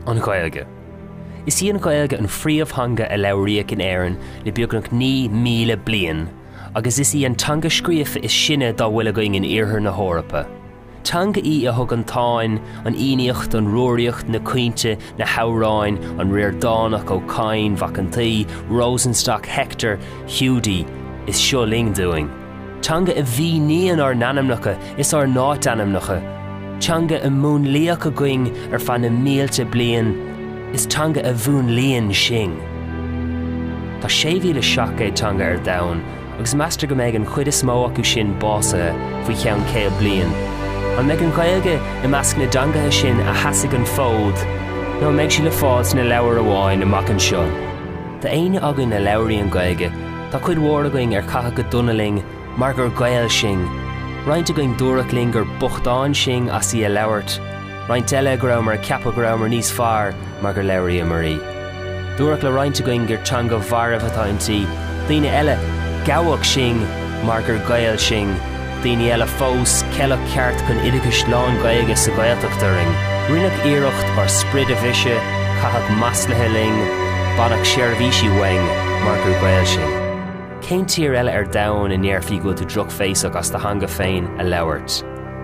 An Ghaeilge. Is í an Ghaeilge an phríomhtheanga a labhraíodh in Éirinn le beagnach 9,000 bliain, agus is í an teanga scríofa is sine dá bhfuil againn in Iarthar na hEorpa. Teanga í a thug an Táin, an Fhiannaíocht, an Rúraíocht, na Caointe, na hAmhráin, an Ríordánach, Ó Cadhain, Mhac an tSaoi, Rosenstock, Hector, Hiúdaí, is Seo Linn dúinn. teanga a mhíníonn ár n-ainmneacha is ár n-áitainmneacha, teanga a múnlaíodh againn ar feadh na mílte bliain is teanga a mhúnlaíonn sinn. Tá 6,700 teanga ar domhan agus meastar go mbeidh an chuid is mó acu sin básaithe faoi cheann 100 bliain. An mbeidh an Ghaeilge i measc na dteangacha sin a sheasfaidh an fód nó an mbeidh sí le fáil sna leabhair amháin amach anseo? Tá éinne againn a labhraíonn an Ghaeilge Tá cuid mhór againn ar caitheadh go dona linn mar gur Gaeil sinn. Roinnt againn dúradh linn gur bochtáin sinn as í a labhairt, roinnt eile go rabhamar ag ceapadh go rabhamar níos fearr mar gur labhraíomar í. Dúradh le roinnt againn gur teanga mharbh atá inti, daoine eile, gabhadh sinn mar gur Gaeil sinn. daoine eile fós, ceileadh ceart chun oideachais lán-Ghaeilge sa Ghaeltacht orainn, rinneadh iarracht ár sprid a bhriseadh, caitheadh maslaithe linn, baineadh seirbhísí uainn mar gur Gaeil sinn. Cén tír eile ar domhan a ndéarfaí go bhfuil tú drochbhéasach as do theanga féin a labhairt?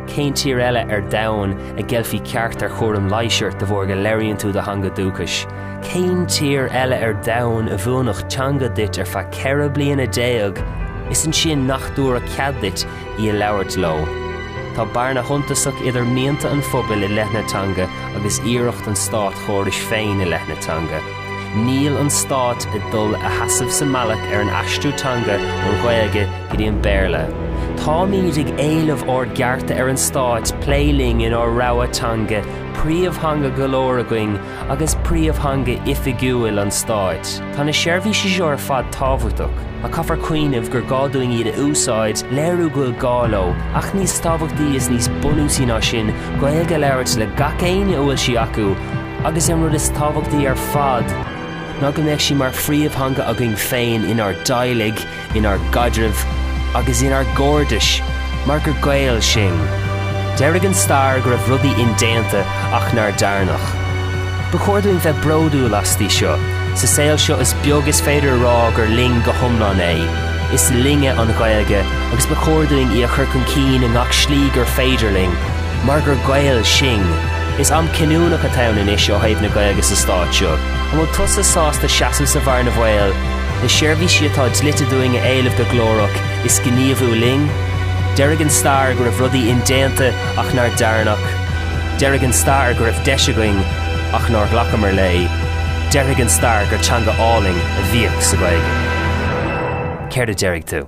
Cén tír eile ar domhan a gceilfí ceart ar chúram leighis ort de bharr go labhraíonn tú do theanga dúchais? Cén tír eile ar domhan a mhúinfeadh teanga duit ar feadh ceithre bliana déag is ansin nach dtabharfadh cead duit í a labhairt leo? Tá bearna shuntasach idir mianta an phobail i leith na teanga agus iarracht an státchórais féin i leith na teanga. Níl an stát ag dul a sheasamh sa mbealach ar an aistriú teanga ón Ghaeilge go dtí an Béarla. Táimid ag éileamh ár gcearta ar an stát plé linn inár rogha teanga, príomhtheanga go leor againn, agus príomhtheanga oifigiúil an stáit. Tá na seirbhísí seo ar fad tábhachtach, ach caithfear cuimhneamh gur gá dúinn iad a úsáid, léiriú go bhfuil gá leo, ach níos tábhachtaí is níos bunúsaí ná sin, Gaeilge a labhairt le gach éinne a bhfuil sí acu, agus an rud is tábhachtaí ar fad, ná go mbeadh sí mar phríomhtheanga againn féin inár dteaghlaigh, inár gcaidrimh agus inár gcairdis mar gur Gaeil sinn. Deirfidh an stair go raibh rudaí indéanta ach nár dearnadh. Ba chóir dúinn bheith bródúil asti seo. Sa saol seo is beag is féidir a rá gur linn go hiomlán é. Is linne an Ghaeilge agus ba chóir dúinn í a chur chun cinn i ngach slí gur féidir linn mar gur Gaeil sinn. Is am cinniúnach atá ann anois ó thaobh na Gaeilge sa Stát seo. An bhfuil tusa sásta seasamh sa bhearna bhaoil? na seirbhísí atá dlite dúinn a éileamh go glórach, is gníomhú linn? Deirfidh an stair go raibh rudaí indéanta ach nár dearnadh. Deirfidh an stair go raibh deis againn ach nár ghlacamar léi. Deirfidh an stair gur teanga álainn a bhíodh sa Ghaeilge. Céard a deirfidh tú?